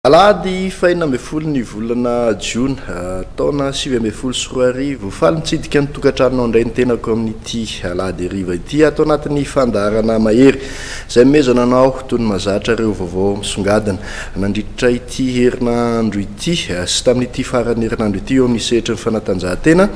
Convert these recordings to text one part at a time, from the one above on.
Alahady fahenina ambin'ny folo ny volana Jona ah, taona sivy ambin'ny folo sy roa arivo. Faly mitsidika ny tokantranonao indray ny tenako amin'ity alahady hariva ity ato anatin'ny fandaharana mahery. Izay nomezana anao tony mahazatra ireo vaovao misongadina nandritra ity herinandro ity sy tamin'ity faran'ny herinandro ity eo amin'ny sehatry ny fanatanjahantena.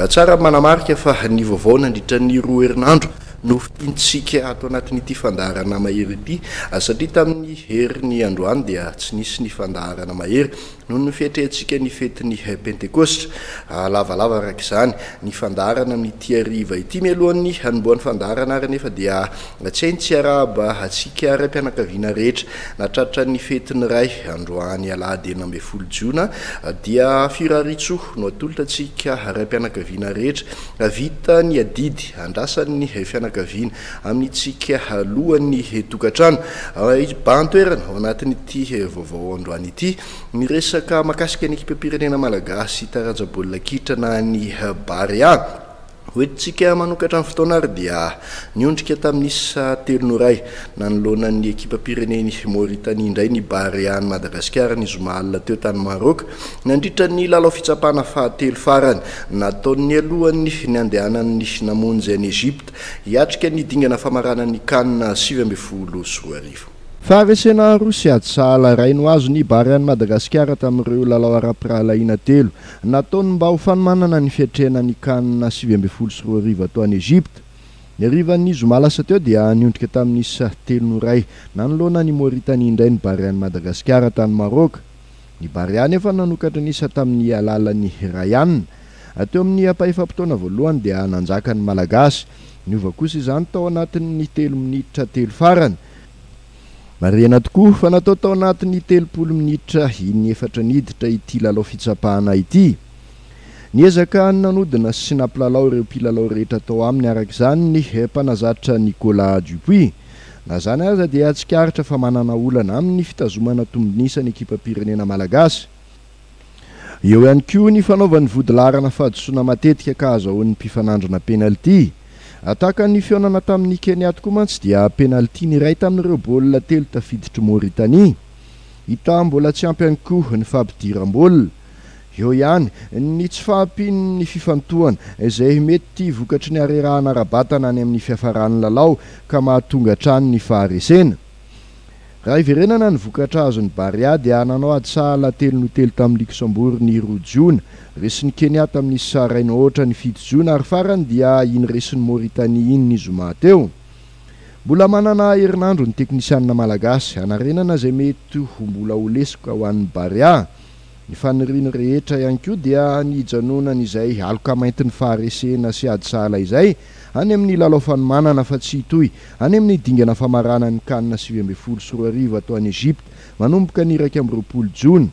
Tsara ny manamarika fa ny vaovao nandritra ny roa herinandro no fintintsika ato anatin'ity fandaharana mahery ity satria tamin'ny heriny androany dia tsy nisy ny fandaharana mahery. Noho ny fietrehantsika ny fetin'ny Pentekosta, lavalava araka izany ny fandaharana amin'ity hariva ity. Mialohan'ny hanombohan'ny fandaharana àry anefa dia tsy hay ny tsy hiarahaba antsika raim-pianakaviana rehetra nahatratra ny fetin'ny Ray androany alahady enina ambin'ny folo jiona. Dia firariantsoa no atolotra antsika raim-pianakaviana rehetra vita ny adidy andrasan'ny fianakaviana. amintsika alohan'ny tokantrano. Hibahan-toerana ao anatin'ity vaovao androany ity ny resaka makasika ny ekipam-pirenena malagasy taranja baolina kitra na ny Barea. Hoentintsika manokatra ny fotoana ary dia niondrika tamin'ny isa telo no iray nanoloana ny ekipam-pirenen'i Mauritanie indray ny Barea an'i Madagasikara ny zoma alina teo tany Maroc nandritra ny lalao fitsapana fahatelo farany nataony alohan'ny niandehanan'ny namonjy an'i Egypte. Hiatrika ny dingana famarana ny Can sivy ambin'ny folo sy roa arivo. Faharesena aroa sy ady sahala iray no azon'ny Barea an'i Madagasikara tamin'ireo lalao ara-pirahalahiana telo nataony mba ho fanomanana ny fiatrehana ny Can sivy ambin'ny folo sy roa arivo atao any Egypta. Ny harivan'ny zoma lasa teo dia niondrika tamin'isa telo no iray nanoloana an'i Moritania indray ny Barean'i Madagasikara tany Maroc. Ny Barea anefa nanokatra ny isa tamin'ny alalan'ny Ryan. Teo amin'ny ampahaefam-potoana voalohany dia nanjaka ny Malagasy. Niova kosa izany tao anatin'ny telo minitra telo farany. Marihina tokoa fa natao tao anatin'ny telopolo minitra iny efatra niditra ity lalao fitsapana ity. Niezaka nanodina sy nampilalao ireo mpilalao rehetra tao aminy araka izany ny mpanazatra Nicolas Dupuis. Na izany aza dia tsikaritra fa manana olana amin'ny fitazomana tombon'isa ny ekipam-pirenena malagasy. Eo ihany koa ny fanaovany vodilaharana fahadisoana matetika ka azahoan'ny mpifanandrina penalty. Hatakan'ny fihaonana tamin'i Kenya tokoa mantsy dia penalty ny iray tamin'ireo baolina telo tafiditr'i Mauritanie. Hita mbola tsy ampy ihany koa ny fampidiram-baolina. Eo ihany ny tsy fahampian'ny fifantohana izay mety vokatry ny harerahana ara-batana any amin'ny fiafaran'ny lalao ka mahatonga hatrany ny faharesena. Raha hiverenana ny vokatra azon'i Barea dia nanao ady sahala telo no telo tamin'i Luksembourg ny roa jona. Resin'i Kenya tamin'i Sahrain Otra ny fito jona ary farany dia iny resin'i Mauritanie iny ny zoma teo. Mbola manana herinandro ny teknisianina malagasy hanarenana izay mety ho mbola ho lesoka ho an'ny Barea. Ny faniriany rehetra ihany koa dia ny hijanonany izay aloka maintin'ny faharesena sy ady sahala izay any amin'ny lalao fanomanana fa tsy hitohy any amin'ny dingana famaranan'ny Can sivy ambin'ny folo sy roa arivo atao any Egypta manomboka ny iraika amby roapolo jona.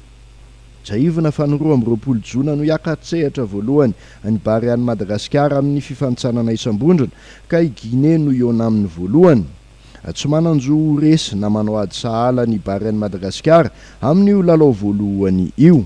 Tsiahivina fa ny roa amby roapolo jona no hiaka-tsehatra voalohany ny Barea an'i Madagasikara amin'ny fifanintsanana isam-bondrona ka i Guinée no hihaona aminy voalohany. Tsy manan-jo ho resy na manao ady sahala ny Bahrain Madagasikara amin'io lalao voalohany io.